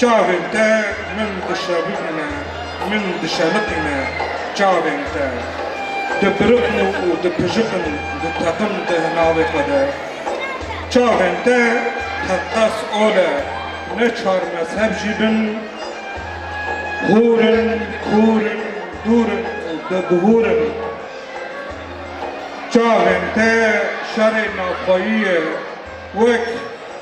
Çavên te min dişewitîne, min dişelitîne çavên te dipirixin û dipijixin diteqin di navê xwe de. Çavên te teqez ole ne çar mezheb jî bin hûr in, kûr in, dûr in û dibihûr in. Çavên te şerê navxweyî ye wek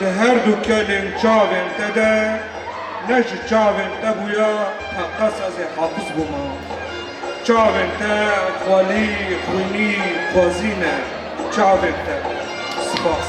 Di her du kelên çavên te de ne ji çavên te bûya teqez ez ê hafiz bûma. Çavên te xwelî, xwînî, xwezî ne. Çavên te. Spas.